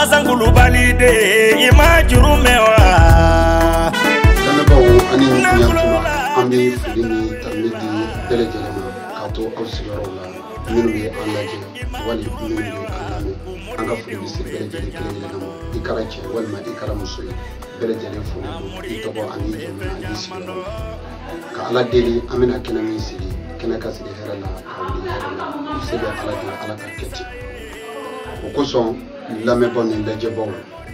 asankulubali de i ma juru mɛn wa. lamɛnbaaw ani ɲɛtuma an bɛ foli ni tanuni di bɛɛ lajɛlen ma k'a to aw sigiyɔrɔw la minnu bɛ an lajɛ wali minnu bɛ an lamɛn an ka foli bɛ se bɛɛ lajɛlen kelen kelen ma i kɛra cɛ walima i kɛra muso ye bɛɛ lajɛlen foli don i tɔgɔ ani jamu ani sigiyɔrɔ ka ala deli an bɛna kɛnɛ min sigi kɛnɛ ka sigi hɛrɛ la ka wuli hɛrɛ la se bɛ ala deli ala k'a kɛ ten o kosɔn lamɛnbaaw ni lajɛbaaw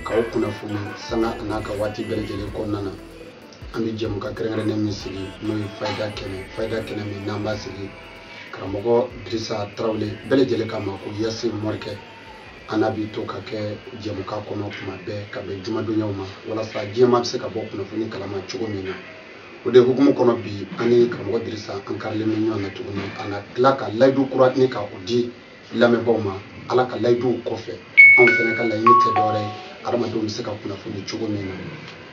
k'aw kunnafoni sanga an'a ka waati bɛɛ lajɛlen kɔnɔna na an bɛ jɛmukan kɛrɛnkɛrɛnnen min sigi n'o ye fayida kɛnɛ fayida kɛnɛ min n'an b'a sigi karamɔgɔ dirisa tarawele bɛɛ lajɛlen k'a ma ko yasi morikɛ an n'a bɛ to ka kɛ jɛmukan kɔnɔ tuma bɛɛ ka bɛn jumadonyaw ma walasa diɲɛmaa bɛ se ka bɔ kunnafoni kalama cogo min na o de hukumu kɔnɔ bi an ni karamɔgɔ dirisa an karilen bɛ ɲɔgɔn na tuguni a na tila ka layidu kura ni ka o di lamɛnbaaw ma ala ka layiduw kɔfɛ anw fana ka laɲini tɛ dɔwɛrɛ ye adamadenw bɛ se ka kunnafoni cogo min na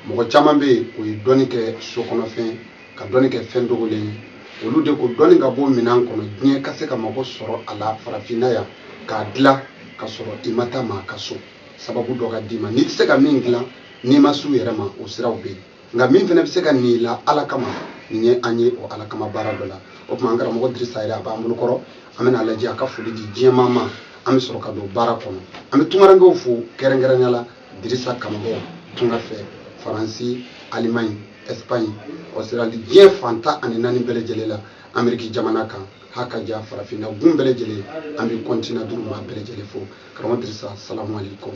mɔgɔ caman bɛ yen o ye dɔnni kɛ sokɔnɔfɛn ka dɔnni kɛ fɛn dogolen ye olu de ko dɔnni ka bɔ minɛn kɔnɔ diɲɛ ka se ka mago sɔrɔ a la farafinna yan k'a dilan ka sɔrɔ i ma taa maa ka so sababu dɔ ka d'i ma n'i tɛ se ka min dilan n'i ma s'u yɛrɛ ma o siraw bɛ yen nka min fana bɛ se k'a ni i la ala kama nin ye an ye o ala kama baara dɔ la o tuma an karamɔgɔ dirisa yɛrɛ a b'an bolo kɔrɔ an bɛna a lajɛ a ka foli di diɲɛmaa ma an bɛ sɔrɔ ka don baara kɔnɔ an bɛ tungarankew fo kɛrɛnkɛrɛnya la dirisa kanubaaw tunga fɛ faransi alimaɲi espaɲi ɔsirali diɲɛ fan tan ani naani bɛɛ lajɛlen la ameriki jamana kan ha ka ja farafinna gun bɛɛ lajɛlen an bɛ kɔntinan duuru maa bɛɛ lajɛlen fo karamɔgɔ dirisa salamu aleykum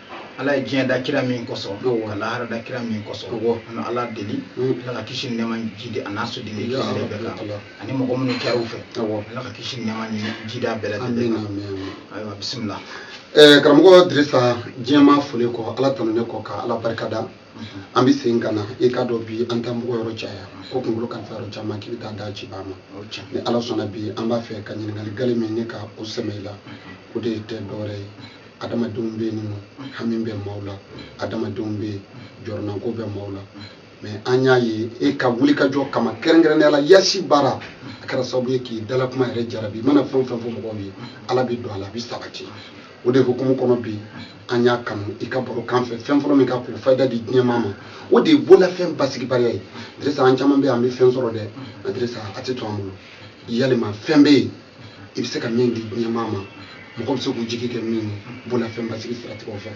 ala ye diɲɛ da kira min kosɔn ka lahara da kira min kosɔn an bɛ ala deli ala ka kisi nɛɛma jidi a n'a soden ni kisi de bɛɛ kan ani mɔgɔ minnu kɛra u fɛ ala ka kisi nɛɛma ni jidi a bɛɛ lajɛlen kan ayiwa bisimila eh, karamɔgɔ dirisa diɲɛmaa foli kɔ ala tanunen kɔ ka ala barika da mhm. an bɛ segin ka na i k'a dɔn bi an taa mɔgɔ yɔrɔ caya ko kunkolo kalifa yɔrɔ caman k'i bɛ taa da ci ba ma ni ala sɔnna bi an b'a fɛ ka ɲininkali gale min ne ka o sɛmɛ i la mhm. o de tɛ dɔwɛrɛ ye adamadenw bɛ yen nɔ hami bɛ maaw la adamadenw bɛ yen jɔrɔnanko bɛ maaw la mɛ an y'a ye e ka wulikajɔ kama kɛrɛnkɛrɛnnenya la yasi baara a kɛra sababu ye k'i dalakuma yɛrɛ jarabi i mana fɛn o fɛn fɔ mɔgɔw ye ala bɛ don a la a bɛ sabati o de hukumu kɔnɔ bi an y'a kanu i ka baro kɛ an fɛ fɛn fɔlɔ min ka k'o fayida di diɲɛmaa ma o de ye bolafɛn basigibaliya ye dirisa an caman bɛ yen an bɛ fɛn sɔrɔ dɛ dirisa a tɛ to an bolo yalima fɛn bɛ yen i bɛ se ka min di diɲɛmaa ma mɔgɔw bɛ se k'u jigi kɛ min ye bololafɛn basigi siratigɛw fɛ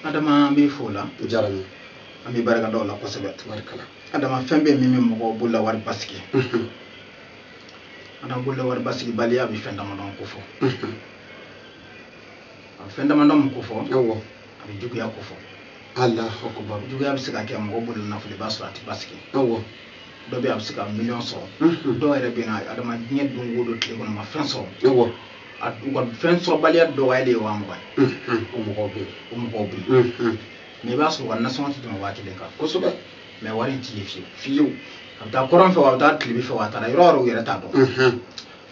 adama an b'i fo o la o diyara n ye an bɛ barika da o la kosɛbɛ tabarikala adama fɛn bɛ min bɛ mɔgɔ bololawari basigi adama bololawari basigibaliya a bɛ fɛn damadɔ ko fɔ fɛn damadɔ min ko fɔ a bɛ juguya ko fɔ allahu akbar juguya bɛ se ka kɛ mɔgɔ bolo nafolo i b'a sɔrɔ a tɛ basigi awɔ dɔ bɛ a bɛ se ka miliyɔn sɔrɔ dɔw yɛrɛ bɛ na adama diɲɛ don o don tile kɔnɔ ma fɛn sɔrɔ awɔ a u ka fɛn sɔrɔbaliya dɔgɔya de ye waa mugan ye o mɔgɔw bɛ yen o mɔgɔw bɛ yen mais i b'a sɔrɔ u ka nasɔngɔ tɛ tɛmɛ waa kelen kan kosɛbɛ mais wari in tɛ ye fiyewu fiyewu a bɛ taa kɔrɔn fɛ wa a bɛ taa tilebin fɛ wa a taara yɔrɔ o yɔrɔ u yɛrɛ t'a dɔn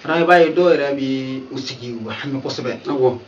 fana i b'a ye dɔw yɛrɛ bɛ u sigi u bɛ hami kosɛbɛ awɔ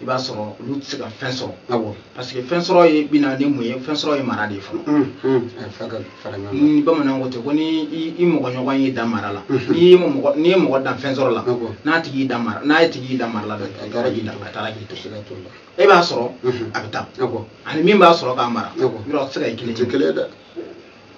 i b'a sɔrɔ olu tɛ se ka fɛn sɔrɔ awɔ parce que fɛn sɔrɔ ye bina ni mun ye fɛn sɔrɔ ye mara de ye fɔlɔ mm, mm. eh, ni bamananw ko ten ko ni i mɔgɔɲɔgɔn y'i dan mara la mm-hmm. n'i ye mɔgɔ n'i ye mɔgɔ dan fɛn sɔrɔ la n'a tigi y'i dan mara n'a ye tigi y'i dan mara la dɛ a taara k'i dan a taara k'i to e b'a sɔrɔ mm-hmm. a bɛ taa a ni min b'a sɔrɔ k'a mara yɔrɔ tɛ se ka kɛ kelen ye dɛ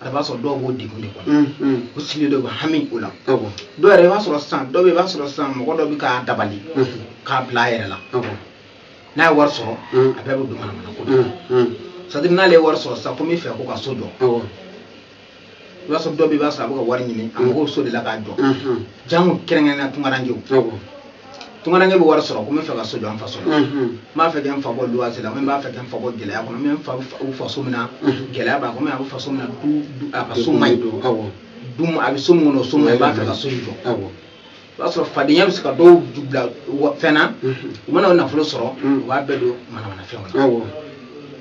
a b'a sɔrɔ dɔw b'o degun de kɔnɔ mm, mm. u sigilen don u bɛ hami o la dɔw yɛrɛ i b'a sɔrɔ sisan dɔw bɛ i b'a sɔrɔ sisan mɔgɔ dɔ bɛ k'a dabali mm-hmm. k'a bila a yɛrɛ la n'a ye wari sɔrɔ mm. a bɛɛ bɛ don manamana ko la c'est-à-dire n'ale ye wari sɔrɔ sisan ko n bɛ fɛ ko ka so jɔ i b'a sɔrɔ dɔw bɛ i b'a sɔrɔ a bɛ ka wari ɲini a mago so de la k'a jɔ jango kɛrɛnkɛrɛnnenya tungarankew tungaranke bɛ wari sɔrɔ ko n bɛ fɛ ka so jɔ an faso la n b'a fɛ ka n fa bɔ luwanse la n b'a fɛ ka n fa bɔ gɛlɛya kɔnɔ n bɛ n fa u faso min na gɛlɛya b'a kɔnɔ a bɛ faso min na a ka so man ɲi du a bɛ so min kɔnɔ o so man ɲi i b'a fɛ ka so in jɔ i b'a sɔrɔ fadenya bɛ se ka dɔw bila fɛn na u mana o nafolo sɔrɔ u b'a bɛɛ don manamanafɛnw na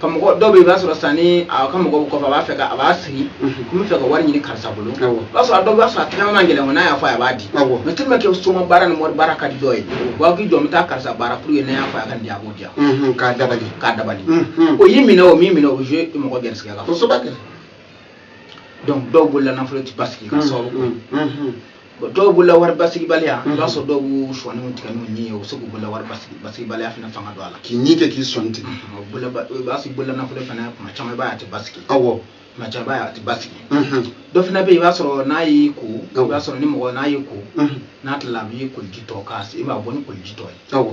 ka mɔgɔ dɔw bɛ i b'a sɔrɔ sisan ni a ka mɔgɔw kɔfɛ a b'a fɛ ka a b'a sigi ko n bɛ fɛ ka wari ɲini karisa bolo o b'a sɔrɔ a dɔw b'a sɔrɔ a tɛgɛ man gɛlɛn n'a y'a fɔ a b'a di mais tellement que soma baara ni wari baara ka di dɔw ye u b'a fɔ k'i jɔ n bɛ taa karisa baara pour que n'a y'a fɔ a ka di a b'o diya k'a dabali k'a dabali o y'i minɛ o min minɛ o ye mɔgɔ gɛrɛsɛgɛ la kosɛbɛ donc dɔw bolola nafolo tɛ basigi ka sababu bon dɔw bolola wari basigibaliya i b'a sɔrɔ dɔw b'u sɔninw tigɛ n'u ɲin ye u bɛ se k'u bolola wari basigibaliya fana fanga don a la k'i ɲin kɛ k'i sɔnin tigɛ i b'a sɔrɔ bolola nafolo fana tuma caman i b'a ye a tɛ basigi awɔ tuma caman i b'a ye a tɛ basigi dɔ fana bɛ yen i b'a sɔrɔ n'a y'i ko i b'a sɔrɔ ni mɔgɔ n'a y'i ko n'a tilala a b'i koliji tɔ k'a i b'a bɔ ni koliji tɔ ye awɔ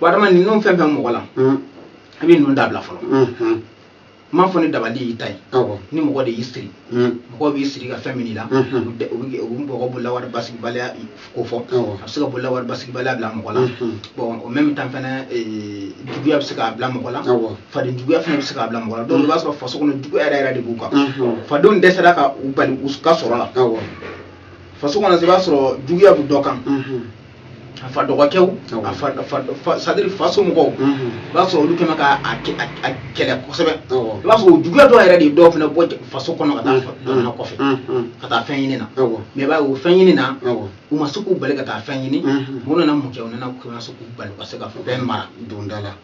wa adama ninnu fɛn fɛn mɔgɔ la a bɛ ninnu dabila fɔlɔ n m'a fɔ ni dabali y'i ta ye ni mɔgɔ de y'i siri mɔgɔ b'i siri ka fɛn min i la u bɛ mɔgɔ bolola wari basigibaliya ko fɔ a bɛ se ka bolola wari basigibaliya bila mɔgɔ la bɔn en même temps fana juguya bɛ se k'a bila mɔgɔ la faden juguya fana bɛ se k'a bila mɔgɔ la dɔw i b'a sɔrɔ faso kɔnɔ juguya yɛrɛ yɛrɛ de b'u kan fadenw dɛsɛra ka u bali u ka sɔrɔ la faso kɔnɔ i b'a sɔrɔ juguya bɛ dɔ kan a fa dɔgɔkɛw a fa fa fa c'est à dire fa somɔgɔw i b'a sɔrɔ olu kɛmɛ ka a kɛ- a- a kɛlɛ kosɛbɛ Awɔ. i b'a sɔrɔ o juguya dɔ yɛrɛ de ye dɔw fana bɔ ja- faso kɔnɔ ka taa fa- jamana kɔfɛ ka taa fɛn ɲini na Awɔ. mais i b'a ye o fɛn ɲini na Awɔ. u ma se k'u bali ka taa fɛn ɲini Mhm. u nana mun kɛ u nana u nana se k'u bali u ka se ka fɛn mara donda la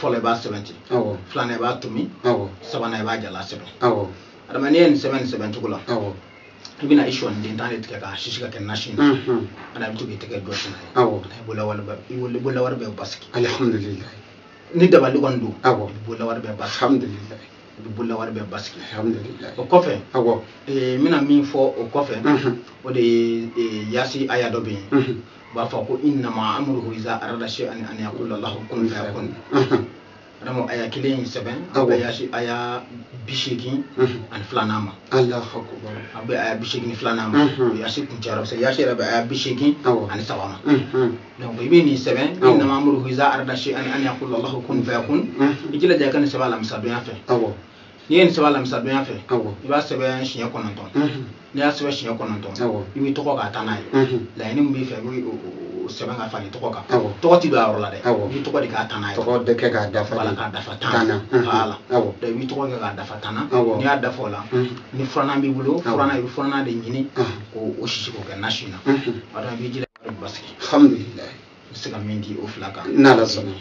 fɔlɔ i b'a sɛbɛn ten filanan i b'a tomi sabanan i b'a jala sɛbɛn adama n'i ye nin sɛbɛn nin sɛbɛn cogo la i bɛna i sɔɔni den tan de tigɛ k'a sisi ka kɛ nasi na ani i bɛ to k'i tɛgɛ jɔsi n'a i bolawari bɛ basigi alhamdulilayi ni dabali kɔni don i bolawari bɛ basigi i bolawari bɛ basigi o kɔfɛ n bɛna min fɔ o kɔfɛ o de ye yasi aya dɔ bɛ yen u b'a fɔ ko inama amuruhu iza arada sayi an an yakula lahu kun fayakun adama aya kelen in sɛbɛn a bɛ yasi aya bi seegin ani filanan ma a bɛ aya bi seegin filanan ma o yasi kuncɛra parce que yasi yɛrɛ bɛ aya bi seegin ani saba ma donc i bɛ nin sɛbɛn inama amuruhu iza arada sayi an an yakula lahu kun fayakun i jilaja i ka nin sɛbɛn alamisadonya fɛ n'i ye nin sɛbɛn alamisadonya fɛ i b'a sɛbɛn siɲɛ kɔnɔntɔn n'i y'a sɛbɛn siɲɛ kɔnɔntɔn i b'i tɔgɔ k'a tannan ye laɲini min b'i fɛ i bɛ o sɛbɛn k'a fara i tɔgɔ kan tɔgɔ tɛ don a yɔrɔ la dɛ i b'i tɔgɔ de k'a tannan ye tɔgɔ bɛ kɛ k'a dafa wala k'a dafa tan na wala i b'i tɔgɔ kɛ k'a dafa tan na n'i y'a dafa o la ni furanan b'i bolo furanan i bɛ furanan de ɲini k'o sisi k'o kɛ nasi na o la i b'i jilaja basigi alhamdulilayi i bɛ se ka min di o fila kan n'ala sɔnna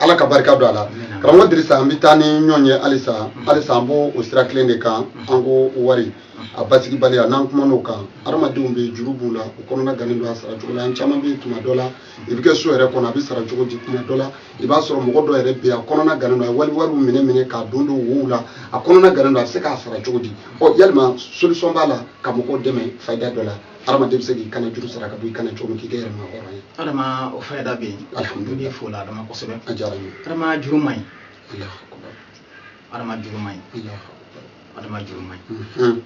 ala ka barika don a la karamɔgɔ dirisa an bɛ taa ni ɲɔgɔn ye halisa mm-hmm. halisa an b'o o sira kelen de kan mm-hmm. an ko wari mm-hmm. a basigibaliya n'an kuman'o kan hadamadenw bɛ juru b'u la u kɔnɔna gannen don a sara cogo la an caman bɛ tuma dɔ la i bɛ kɛ so yɛrɛ kɔnɔ a bɛ sara cogo di tuma dɔ la i b'a sɔrɔ mɔgɔ dɔ yɛrɛ bɛ yen a kɔnɔna gannen don a ye wali wariw minɛ minɛ k'a don don wow la a kɔnɔna gannen don a bɛ se k'a sara cogo di ɔ yalima solution b'a la ka mɔgɔw dɛmɛ fayida dɔ la hadamaden bɛ se k'i kanna juru sara ka bɔ i kan na cogo min k'i kɛ yɛrɛmahɔrɔn ye adama o fayida bɛ yen alhamdulilayi fo la adama kosɛbɛ a diyara n ye adama juru man ɲi adama juru man ɲi adama juru man ɲi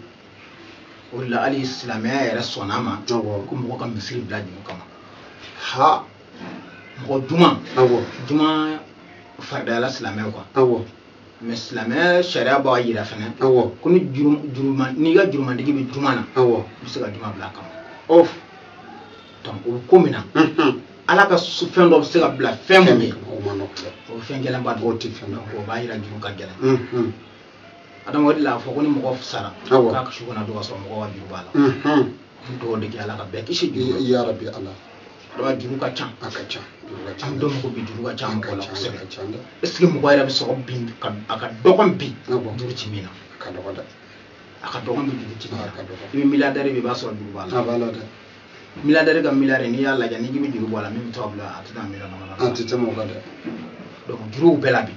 o de la hali silamɛya yɛrɛ sɔnna a ma ko mɔgɔ ka misiri bila juru kama ha mɔgɔ juma juma faridayala silamɛw kan mais silamɛya sariya b'a yira fana awɔ ko ni juruma n'i ka jurumantigi bɛ juma na awɔ i bɛ se ka juma bila a kama ɔ donc o bɛ ko min na ala ka fɛn dɔ bɛ se ka bila fɛn min ye o ma nɔgɔ dɛ o fɛn gɛlɛnba don o tɛ fɛn dɔ o b'a yira juru ka gɛlɛn adama o de la a fɔ ko ni mɔgɔ sara k'a ka su kana don ka sɔrɔ mɔgɔ ka juru b'a la n dugawu de kɛ ala ka bɛɛ kisi juru yarabi ala Donc juru ka ca a ka ca an dɔn mɔgɔ bi juru ka ca mɔgɔ la kosɛbɛ est ce que mɔgɔ yɛrɛ bɛ sɔrɔ bi a ka dɔgɔn bi juru ti min na a ka dɔgɔn dɛ a ka dɔgɔn bi juru ti min na a ka dɔgɔn i bɛ miliyadɛri ye i b'a sɔrɔ juru b'a la a b'a la dɛ miliyadɛri ka miliyari n'i y'a lajɛ n'i k'i bɛ juru bɔ a la min bɛ to a bolo a tɛ taa miliyɔn dama dama a tɛ tɛmɛ o kan dɛ donc juruw bɛɛ la bi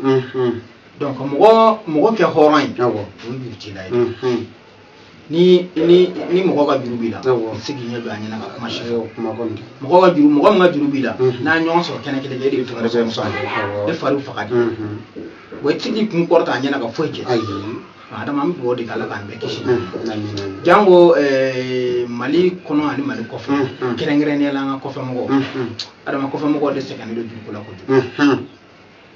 donc mɔgɔ mɔgɔ kɛ hɔrɔn ye o ye juru t'i la ye ni ni ni mɔgɔ ka juru b'i la i tɛ se k'i ɲɛ don a ɲɛ na ka kuma si fɔ mɔgɔ ka juru mɔgɔ min ka juru b'i la mhm. n'a ɲɔgɔn sɔrɔ kɛnɛ kelen e de bɛ to ka ne sɔrɔ sɔrɔ e fari bɛ faga de wa i tɛ se k'i kun kɔrɔta a ɲɛna ka foyi kɛ adama an bɛ dugawu de kɛ ala k'an bɛɛ kisi mhm. janko eh, mali kɔnɔ ani mali kɔfɛ mhm. kɛrɛnkɛrɛnnenya la an ka kɔfɛmɔgɔw adama kɔfɛmɔgɔw de sɛgɛnnen don juru ko la kojugu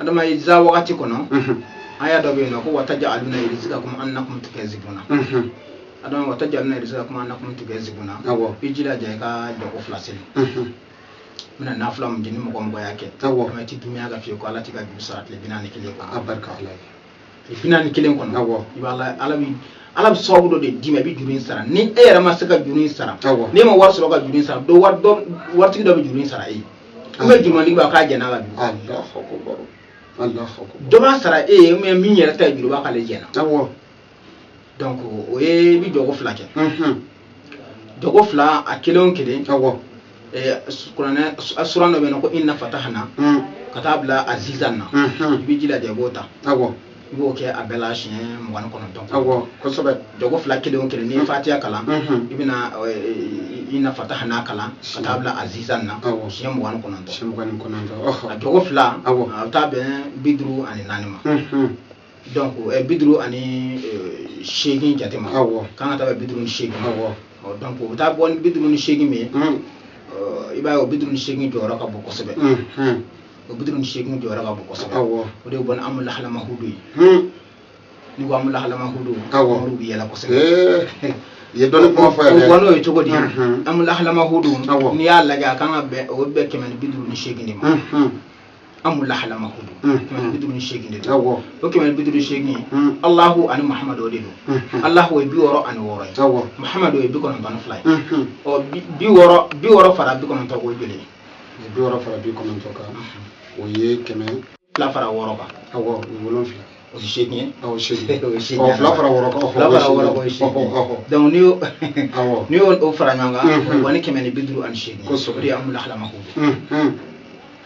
adama iza wakati kɔnɔ aya dɔ bɛ yen n'o ko wataja aluna rizikakumu anakumu tukazibuna adama wataja aluna rizikakumu anakumu tukazibuna i jilaja i ka jɔko fila seli min ye nafila min ye ni mɔgɔ o mɔgɔ y'a kɛ ne ti diɲɛ k'a f'i ye ko ala t'i ka juru sara tile bi naani kelen kɔ a barika ala ye bi naani kelen kɔnɔ awɔ i b'a la ala bi ala bɛ sababu dɔ de d'i ma i bɛ juru in sara ni e yɛrɛ ma se ka juru in sara awɔ n'e ma wari sɔrɔ ka juru in sara dɔ wari dɔ waritigi dɔ bɛ juru in sara e ye an bɛ jurumantigi b'a k'a jɛn'a la bi dɔ b'a sara e ye mɛ min yɛrɛ ta ye juru b'a k'ale jɛnna awɔ donc o ye i bɛ jɔko fila kɛ jɔko fila a kelen o kelen awɔ kuranɛ suran dɔ bɛ yen n'o ko inna fatahana ka taa bila azizan na i b'i jilaja i b'o ta awɔ i b'o kɛ a bɛɛ la siɲɛ mugan ni kɔnɔntɔn awɔ kosɛbɛ jɔko fila kelen o kelen n'i ye fatiya kalan i bɛna inna fatahana kalan ka taa bila azizan na awɔ siɲɛ mugan ni kɔnɔntɔn siɲɛ mugan ni kɔnɔntɔn a jɔko fila awɔ a bɛ taa bɛn bi duuru ani naani ma donc eh, bi duuru ani eh, seegin jate ma awɔ a kan ka taa bɛn bi duuru ni seegin ma awɔ Ɔ, donc o bɛ taa bɔ ni bi duuru ni seegin min ye un ɔ, i b'a ye o bi duuru ni seegin jɔyɔrɔ ka bon kosɛbɛ un un o bi duuru ni seegin jɔyɔrɔ ka bon kosɛbɛ awɔ o de ye bɔ ni amu lahalama hudu ye un ni ko amu lahalama hudu Awɔ. olu bɛ yɛlɛ kosɛbɛ ee i ye dɔnni kuma fɔ o yɛrɛ bɔn'o ye cogo di Mhm. amu lahalama hudu Awɔ. n'i y'a lajɛ a kan ka bɛn o bɛ bɛn kɛmɛ ni bi duuru ni seegin de ma un un amu lahala mahudu kɛmɛ ni bi duuru ni seegin de don o kɛmɛ ni bi duuru ni seegin alahu ani mahamadu o de don alahu ye bi wɔɔrɔ ani wɔɔrɔ ye mahamadu ye bi kɔnɔntɔn ni fila ye ɔ bi wɔɔrɔ bi wɔɔrɔ fara bi kɔnɔntɔn kan o ye joli ye bi wɔɔrɔ fara bi kɔnɔntɔn kan o ye kɛmɛ fila fara wɔɔrɔ kan awɔ o ye wolonfila o ye seegin ye awɔ seegin o ye seegin ye fila fara wɔɔrɔ kan fila fara wɔɔrɔ kan o ye seegin ye donc n'i y'o awɔ n'i y'o fara ɲɔgɔn kan o ye kɛmɛ ni bi duuru ani seegin kosɛbɛ o de ye amu lahala mahudu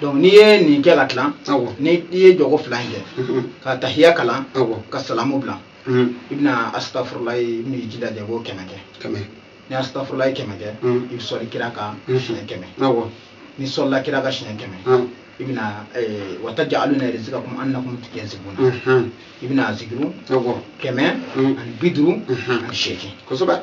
donc n'i ye nin kɛ ka tilan ni i ye jɔko fila in kɛ ka tahiya kalan ka salamu bila i bɛna asitafurulayi i bɛn'i jilaja i b'o kɛmɛ kɛ ni asitafurulayi kɛmɛ kɛ i bɛ sɔli kira kan siɲɛ kɛmɛ n'i sɔlila kira kan siɲɛ kɛmɛ i bɛna watajaluna rizikakum anakum tukazibuna i bɛna zikiru kɛmɛ ani bi duuru ani seegin kosɛbɛ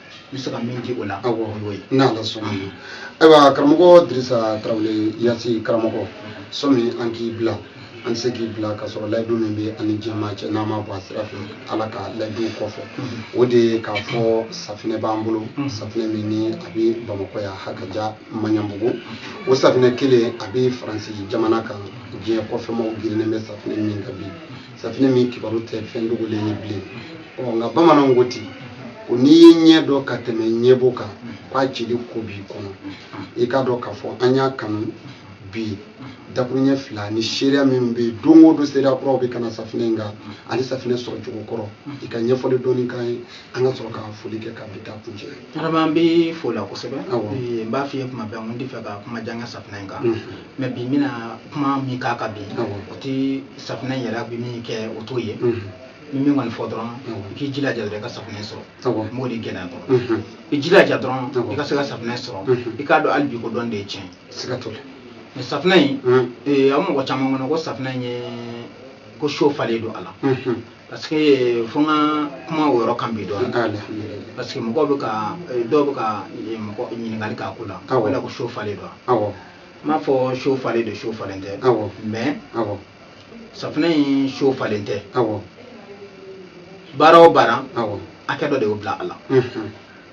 n bɛ se ka min di o la o y'o ye n'ala sɔnn'a ma ayiwa karamɔgɔ dirisa tarawele yasi karamɔgɔ sɔmi an k'i bila an tɛ se k'i bila ka sɔrɔ layidu min bɛ an ni jama cɛ n'an ma bɔ a sira fɛ ala ka layidu kɔfɛ o de ye k'a fɔ safinɛ b'an bolo safinɛ min ni a bɛ bamakɔ yan hakaja maɲanbugu o safinɛ kelen a bɛ faransi jamana kan diɲɛ kɔfɛmaw girinnen bɛ safinɛ min kan bi safinɛ min kibaru tɛ fɛn dogolen ye bilen ɔ nka bamananw ko ten ko n'i ye ɲɛ dɔ ka tɛmɛ ɲɛbo kan k'a cili ko b'i kɔnɔ i k'a dɔn k'a fɔ an y'a kanu bi dakuruɲɛ fila ni seereya minnu bɛ yen don o don seereya kuraw bɛ ka na safinɛ in kan ani safinɛ sɔrɔcogo kɔrɔ i ka ɲɛfɔli dɔɔni k'an ye an ka sɔrɔ ka foli kɛ ka bi ta kuncɛ Vraiment n b'i fo o la kosɛbɛ n b'a f'i ye kuma bɛɛ n t'a fɛ ka kuma jan kɛ safinɛ in kan mais bi n bɛna kuma min k'a kan bi o tɛ safinɛ in yɛrɛ bɛ min kɛ o t'o ye n bɛ min kɔni fɔ dɔrɔn i k'i jilaja dɔrɔn i ka safinɛ sɔrɔ n b'o de gɛlɛya dɔrɔn i jilaja dɔrɔn i ka se ka safinɛ sɔrɔ i k'a dɔn hali bi ko dɔn de ye tiɲɛ siga t'o la mais safinɛ in a bɛ mɔgɔ caman kɔnɔ ko safinɛ in ye ko so falen don a la parce que eh, fo n ka kuma o yɔrɔ kan bi dɔɔni parce que mɔgɔw bɛ ka eh, dɔw bɛ ka eh, mɔgɔ ɲininkali k'a ko la o la ko so falen don wa n m'a fɔ so falen don so falen tɛ mais safinɛ in so falen tɛ baara o baara hakɛ dɔ de y'o bila a la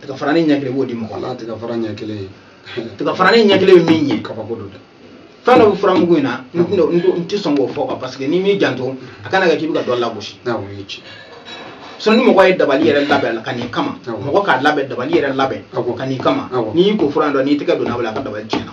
tiga farani ɲɛ kelen b'o di mɔgɔ la tiga fara ɲɛ kelen ye tiga farani ɲɛ kelen ye min ye kabako don dɛ fɛn dɔ bɛ furamugu in na n tɛna- n tɛ- n tɛ sɔn k'o fɔ quoi, parce que n'i m'i janto a kana kɛ k'i bɛ ka dɔ lagosi n'a o ye ci sɔn ni mɔgɔ ye dabali yɛrɛ labɛn ka n'i kama Awɔ. mɔgɔ k'a labɛn dabali yɛrɛ labɛn Awɔ. ka n'i kama Awɔ. n'i y'i ko fura in dɔ n'i tɛgɛ donna a bɛ la a ka dabali tiɲɛna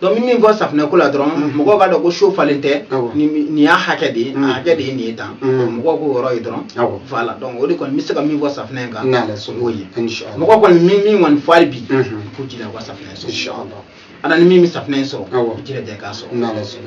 donc n bɛ min fɔ safinɛ ko la dɔrɔn mhm. mɔgɔw k'a dɔn ko so falen tɛ nin y'a hakɛ de ye mhm. a hakɛ de ye nin ye tan mhm. mɔgɔw k'o yɔrɔ ye dɔrɔn voilà donc o de kɔni n bɛ se ka min fɔ safinɛ kan o y'o ye mɔgɔ kɔni min min kɔni fɔ hali bi k'u jilaja u ka safinɛ sɔrɔ a na ni min bɛ safinɛ in sɔrɔ i jilaja k'a sɔrɔ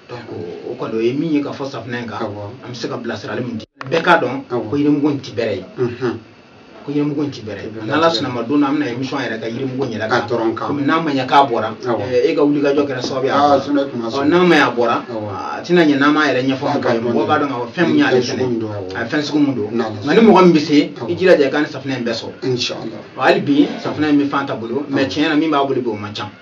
o kɔni o ye min ye k'a fɔ safunɛ in kan an bɛ se ka bilasirali min di bɛɛ k'a dɔn ko yirimugu in ti bɛrɛ ye ko yirimugu in ti bɛrɛ ye n'ala sɔnn'a ma don na an bɛna émission yɛrɛ kɛ yirimugu in yɛrɛ kan dɔrɔn kan komi n'a ma ɲɛ k'a bɔra e ka wulikajɔ kɛra sababu ye a bɔra n'a ma ɲɛ a bɔra a tɛna ɲɛ n'an m'a yɛrɛ ɲɛfɔ mɔgɔw ye mɔgɔw b'a dɔn k'a fɔ fɛn min y'ale fɛnɛ a ye fɛn sugu min don nka ni mɔgɔ min bɛ se i jilaja i ka nin safunɛ in bɛɛ sɔrɔ hali bi safunɛ in bɛ fanta bolo mɛ tiɲɛ na min b'a bolo bi o man ca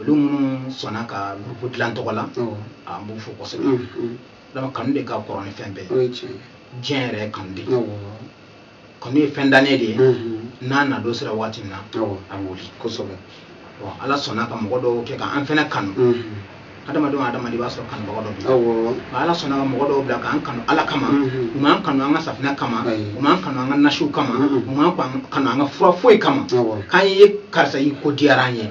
olu minnu sɔnna ka gurupu dilan tɔgɔ la an b'u fo kosɛbɛ donc kanu de ka kɔrɔ ni fɛn bɛɛ diɲɛ yɛrɛ ye kanu de ye kanu ye fɛn dannen de ye n'a na don sera waati min na a bɛ wuli kosɛbɛ bon ala sɔnna ka mɔgɔ dɔw kɛ k'an fɛnɛ kanu adamadenw adamaden i b'a sɔrɔ kanubaga dɔ bɛ nka ala sɔnna ka mɔgɔ dɔw bila k'an kanu ala kama u m'an kanu an ka safinɛ kama u m'an kanu an ka nasiw kama u m'an kanu an ka fura foyi kama k'an ye karisa y'i ko diyara an ye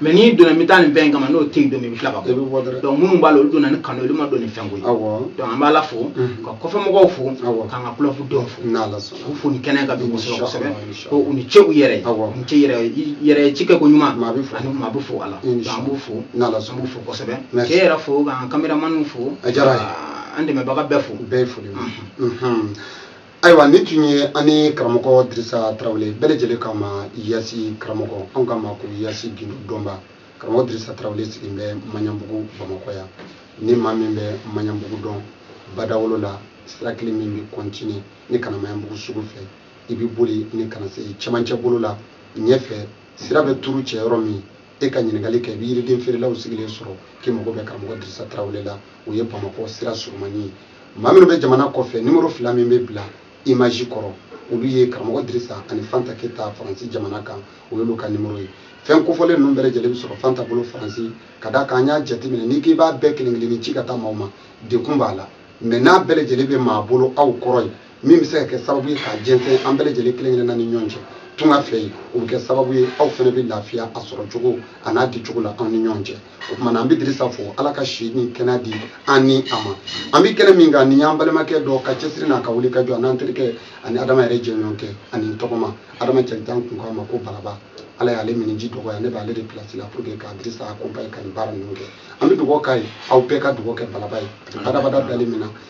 mɛ n'i donna n bɛ taa nin fɛn in kama n'o tɛ yen don min i bɛ tila ka bɔ donc minnu b'a la olu donna ni kanu olu ma don ni fɛnko ye donc an b'ala fo ka kɔfɛ mɔgɔw fo k'an ka kulɔbu denw fo k'u fo ni kɛnɛ ka don kosɛbɛ kosɛbɛ ko u ni ce u yɛrɛ ye u ni ce yɛrɛ yɛrɛ ci kɛ ko ɲuman ani maa bɛɛ fo a la donc an b'u fo an b'u fo kosɛbɛ k'e yɛrɛ fo k'an kameramaniw fo an dɛmɛbaga bɛɛ fo bɛɛ fo ayiwa nin tun ye an ni karamɔgɔ dirisa tarawele bɛɛ lajɛlen k'a ma yasi karamɔgɔ anw k'a ma ko yasi gindo dɔnba karamɔgɔ dirisa tarawele sigilen bɛ maɲanbugu bamakɔ yan ni maa min bɛ maɲanbugu dɔn badawolo la sira kelen min bɛ kɔntine ni ka na maɲanbugu sugu fɛ i bɛ boli ni ka na se cɛmancɛ bolo la ɲɛfɛ sira bɛ turu cɛ yɔrɔ min e ka ɲininkali kɛ i bɛ yiriden feerelaw sigilen sɔrɔ k'i mago bɛ karamɔgɔ dirisa tarawele la o ye bamakɔ sira surumani ye maa minnu bɛ jamana kɔfɛ nimoro fila min bɛ bila imazi kɔrɔ olu ye karamɔgɔ dirisa ani fanta keyita faransi jamana kan o y'olu ka nimoro ye fɛn kofɔlen ninnu bɛɛ lajɛlen bɛ sɔrɔ fanta bolo faransi ka d'a kan an y'a jateminɛ n'i k'i b'a bɛɛ kelen kelen ni ci ka taa maaw ma degun b'a la mɛ n'a bɛɛ lajɛlen bɛ maa bolo aw kɔrɔ yen min bɛ se ka kɛ sababu ye k'a jɛnsɛn an bɛɛ lajɛlen kelen kelenna ni ɲɔgɔn cɛ tunga fɛ yen o bɛ kɛ sababu ye aw fana bɛ lafiya a sɔrɔ cogo an'a di cogo la aw ni ɲɔgɔn cɛ o tuma na an bɛ dirisa fo ala ka si ni kɛnɛya di an ni a ma an bɛ kɛnɛ min kan nin y'an balimakɛ dɔ ka cɛsiri n'a ka wulikajɔ an'an terikɛ ani adama yɛrɛ jɛɲɔgɔnkɛ ani tɔgɔma adama cɛrijan kun k'a ma ko balaba ala y'ale miniji dɔgɔya ne b'ale de pilasi la puruke ka dirisa akompaye ka nin baara ninnu kɛ an bɛ dugawu k'a ye aw bɛɛ ka dugawu kɛ balaba ye badabada bilali min na